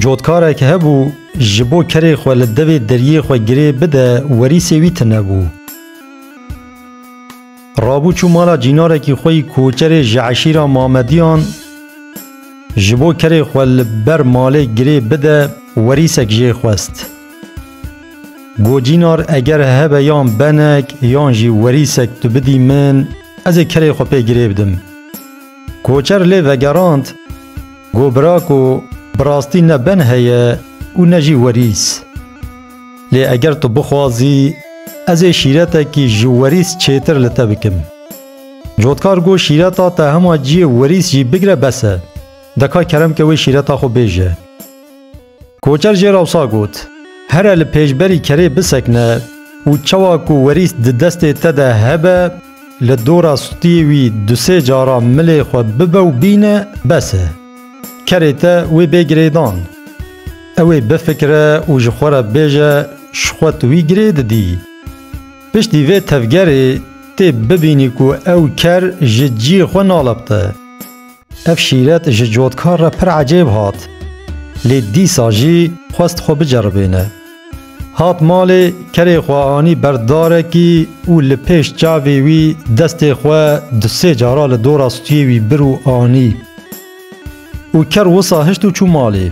Cotkarek hebû ji bo kerê xwe li devê deriyê xwe girê bide werîsê wî tine bû. Rabû çû mala cînarekî xwe yî koçerê ji eşîra Mamediyan ji bo kerê xwe li ber malê girê bide werîsek jê xwest. Got cînar eger hebe yan benek yan jî werîsek tu bidî min ez ê kerê xwe pê girê bidim. Koçer lê vegerand ku birako bi rastî ne ben heye û ne jî werîs. Lê eger tu bixwazî ez ê şîretekî ji werîs çêtir li te bikim. Cotkar got şîreta te hema ciyê werîs jî bigire bes e. Deka kerem ke wê şîreta xwe bêje. Koçer jê re wisa got, Here li pêşberî kerê bisekine û çawa ku werîst di destê te de hebe li dora stûyê wî du sê cara milê xwe bibe û bîne bes e. Kerê te wê bê girêdan. Ew ê bifikire û ji xwe re bêje ji xwe tu wî girê didî. Piştî vê tevgerê tê bibînî ku ew ker ji ciyê xwe nalepte. Ev şîret ji cotkar re pir ecêb hat, lê dîsa jî xwest xwe biceribêne. Hat malê, kerê xwe anî ber darekî û li pêş çavê wî destê xwe du sê cara li dora stûyê wî bir û anî. Û ker wisa hişt û çû malê.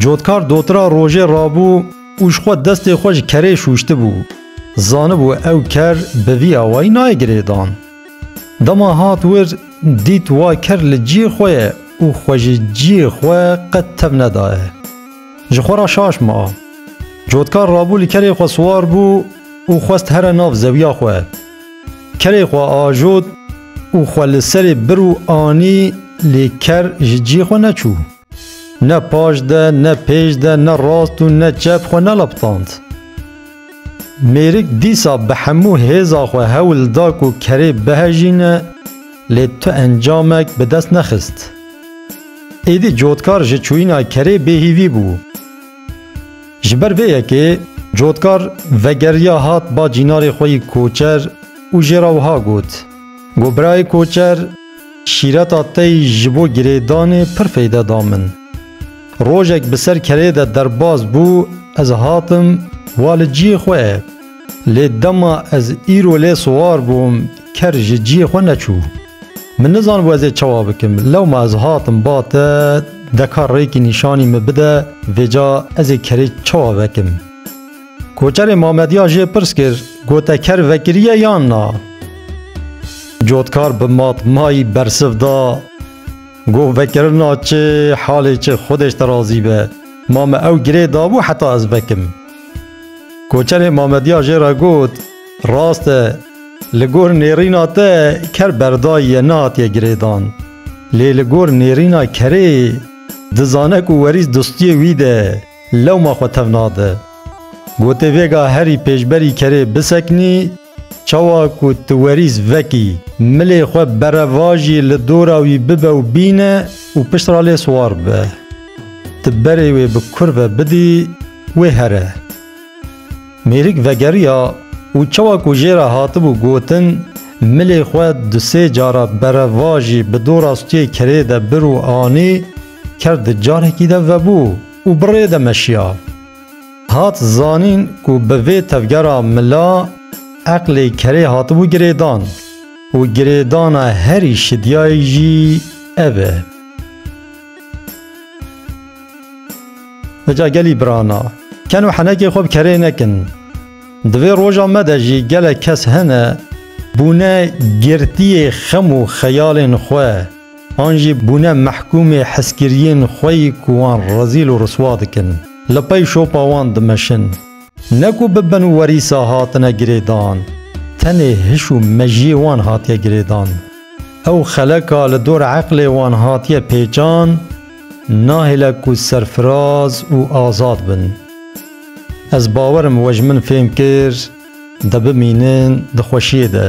Cotkar dotira rojê rabû. û ji xwe destê xwe ji kerê şûştibû, zanibû ew ker bi vî awayî nayê girêdan. Dema hat wir, dît wa ker li ciyê xwe ye û xwe ji ciyê xwe qet tev nedaye. Ji xwe re şaş ma. Cotkar rabû li kerê xwe siwar bû û xwest here nav zewiya xwe. Kerê xwe ajot û xwe li serê bir û anî lê ker ji ciyê xwe neçû. Ne paş de, ne pêş de, ne rast û ne çep xwe nelaptand. Mêrik dîsa bi hemû hêza xwe hewl da ku kerê bihejîne, lê tu encamek bi dest nexist. Êdî cotkar ji çûyîna kerê bêhîvî bû. Ji ber vê yekê cotkar vegeriya hat ba cînarê xwe yî koçer û jê re wiha got, Go birayê koçer, Şîreta te yî ji bo girêdanê pir feyde da min. Rojek bi ser kerê de derbas bû ez hatim wa li ciyê xwe lê dema ez îro lê siwar bûm ker ji ciyê xwe neçû. Min nizanibû ez ê çawa bikim lewma ez hatim ba te deka rêkî nîşanî min bide vêca ez ê kerê çawa vekim. Koçerê Mamediya jê pirs kir, gote ker vekiriye yan na? Cotkar bi matmayî bersiv da, Goh vekirina çi, halê çi, Xwedêş te razî be. Ma me ew girê dabû heta ez vekim. Koçerê Mamediya jê re got, Rast e, li gor nêrîna te ker berdayiye nehatiye girêdan. Lê li gor nêrîna kerê dizane ku werîs distiyê wî de ye. lewma xwe tev nade. Gotê vêga herî pêşberî kerê biseknî, çawa ku tu werîs vekî, milê xwe berevajî li dora wî bibe û bîne û piştre lê siwar be. Tu berê wê bi kurve bidî, wê here. Mêrik vegeriya û çawa ku jê re hatibû gotin, milê xwe du sê cara berevajî bi dora stûyê kerê de bir û anî, ker di carekî de vebû û bi rê de meşiya. Hat zanîn ku bi vê tevgera mila eqlê kerê hatibû girêdan û girêdana herî şidiyayî jî ev e. Eca gelî birana, ken û henekê xwe bi kerê nekin. Di vê roja me de jî gelek kes hene bûne girtiyê xem û xeyalên xwe an jî bûne mehkûmê heskiriyên xwe yî ku wan rezîl û riswa dikin, li pey şopa wan dimeşin. Ne ku bi bin û werîsa hatine girêdan, tenê hiş û mejiyê wan hatiye girêdan. Ew xeleka li dor eqlê wan hatiye pêçan, nahêle ku serfiraz û azad bin. Ez bawer im we ji min fêm kir, de bimînin di xweşiyê de.